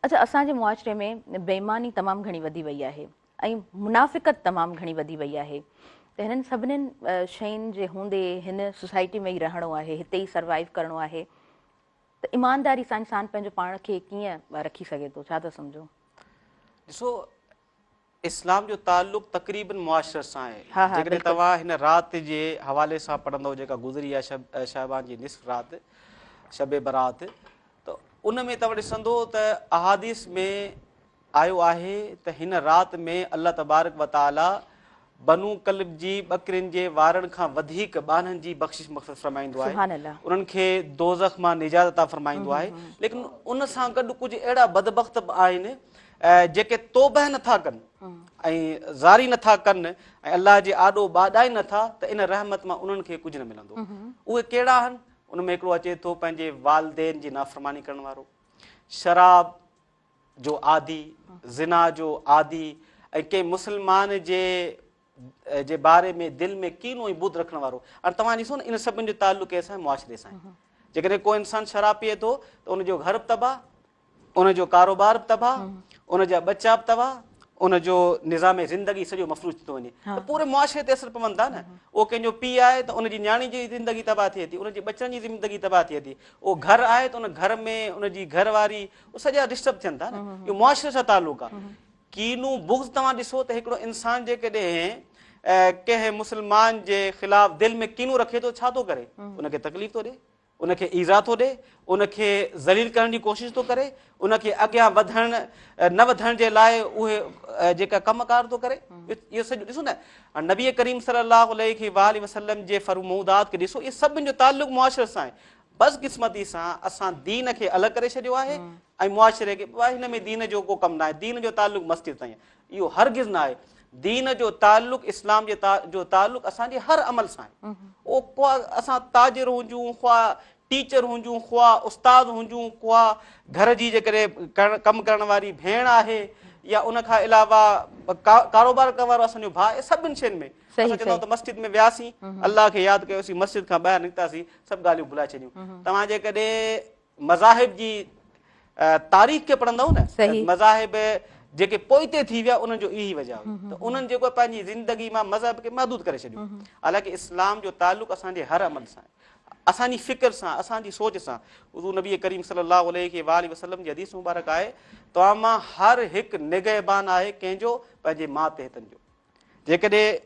اچا اسان جي معاشري ۾ بيماني تمام گهڻي وڌي وئي آهي ۽ منافقت تمام گهڻي وڌي وئي آهي ته هنن سڀنين شين جي هوندي هن سوسائٽي ۾ ئي رهڻو آهي هتي ئي سروائيو ڪرڻو آهي ته ايمانداري سان انسان پنهنجو پاڻ کي ڪيئن رکي سگهي ٿو ڇا ٿا سمجهو؟ ڏسو اسلام جو تعلق تقريبن معاشرت سان آهي. جيڪڏهن توهان هن رات جي حوالي سان پڙهندؤ جيڪا گذري آهي شب شعبان جي نصف رات شب برات ته ان ۾ توهان ڏسندو ته احاديث ۾ آيو آهي ته هن رات ۾ الله تبارڪ وتعاليٰ بنو ڪلب جي ٻڪرين جي وارن کان وڌيڪ ٻانهن جي بخشش مغفرت فرمائيندو آهي سبحان الله انهن کي دوزخ مان نجات عطا فرمائيندو آهي ليڪن ان سان گڏ ڪجهه اهڙا بدبخت به آهن جيڪي توبه نٿا ڪن ۽ زاري نٿا ڪن ۽ الله جي آڏو ٻاڏائين نٿا ته ان رحمت مان انهن کي ڪجهه نه ملندو اهي ڪهڙا آهن ان ۾ هڪڙو اچي ٿو پنهنجي والدين جي نافرماني ڪرڻ وارو شراب جو عادي، زنا جو عادي ۽ ڪنهن مسلمان جي جي باري ۾ دل ۾ ڪينو ۽ بت رکڻ وارو هاڻي توهان ڏسو نه ان سڀن جو تعلق ڪنهن سان معاشري سان آهي جيڪڏهن ڪو انسان شراب پيئي ٿو ته ان جو گهر به تباهه ان جو ڪاروبار به تباهه ان جا ٻچا به تباهه ان جو نظام زندگي سڄو مفروض ٿي ٿو وڃي ته پوري معاشري تي اثر پون ٿا نه اهو ڪنهن جو پيء آهي ته ان جي نياڻي جي زندگي تباهه ٿئي ٿي ان جي ٻچن جي زندگي تباهه ٿئي ٿي اهو گهر آهي ته ان گهر ۾ ان جي گهر واري هو سڄا ڊسٽرب ٿين ٿا نه اهو معاشري سان تعلق آ کينو بغض توهان ڏسو ته هڪڙو انسان جي ڪڏهن ڪنهن مسلمان جي خلاف دل ۾ کينو رکي ٿو ڇا ٿو ڪري ان کي تڪليف ٿو ڏي ان کي ايزا ٿو ڏي ان کي ذليل ڪرڻ جي ڪوشش ٿو ڪري ان کي اڳيان وڌڻ نه وڌڻ جي لاء اهي جيڪا ڪم ڪار ٿو ڪري اهو سڄو ڏسو نه نبي ڪريم صلي الله عليه وسلم جي فرمودات کي ڏسو اهي سڀن جو تعلق معاشري سان بدقسمتي سان اسان دين کي الڳ ڪري ڇڏيو آهي ۽ معاشري کي بابا هن ۾ دين جو ڪو ڪم ناهي دين جو تعلق مسجد سان آهي اهو هرگز نه آهي دين جو تعلق اسلام جي جو تعلق اسان جي هر عمل سان آهي او خوا اسان تاجر هجون خوا ٽيچر هجون خوا استاد هجون خوا گهر جي جيڪڏهن ڪم ڪرڻ واري ڀيڻ آهي يا ان کان علاوه ڪاروبار ڪرڻ وارو اسان جو ڀاء سڀني شين ۾ اسان چوندو ته مسجد ۾ وياسين الله کي ياد ڪيوسين مسجد کان ٻاهر نڪتاسين سڀ ڳالهيون ڀلائي ڇڏيون توهان جيڪڏهن مذاهب جي تاريخ کي پڙهندو نه مذاهب جيڪي پوئتي ٿي ويا انهن جو اهي ئي وجہ هئي ته انهن جيڪو پنهنجي زندگي مان مذهب کي محدود ڪري ڇڏيو حالانڪه اسلام جو تعلق اسان جي هر عمل سان اسانجي فڪر سان اسانجي سوچ سان حضور نبي ڪريم صلي الله عليه وآله وسلم جي حديث مبارڪ آهي توهان مان هر هڪ نگهبان آهي ڪنهن جو پنهنجي ماء تحتن جو جيڪڏهن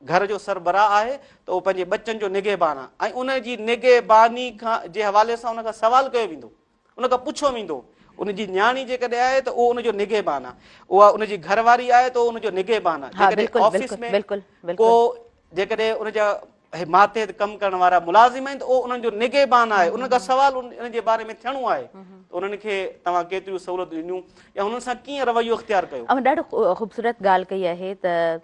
گهر جو سربراهه آهي ته اهو پنهنجي ٻچن جو نگهبان آهي ۽ ان جي نگهباني کان جي حوالي سان ان کان سوال ڪيو ويندو ان کان پڇيو ويندو ان جي نياڻي جيڪڏهن آهي ته اهو ان جو نگهبان آهي اها ان جي گهر واري آهي ته ان جو نگهبان آهي جيڪڏهن آفيس ۾ ڪو جيڪڏهن ان جا ماتحت ڪم ڪرڻ وارا ملازم آهن ته اهو انهن جو نگهبان آهي ان کان سوال ان جي باري ۾ ٿيڻو آهي انهن کي توهان ڪيتريون سهولتون ڏنيون يا انهن سان ڪيئن رويو اختيار ڪيو ڏاڍو خوبصورت ڳالهه ڪئي آهي ته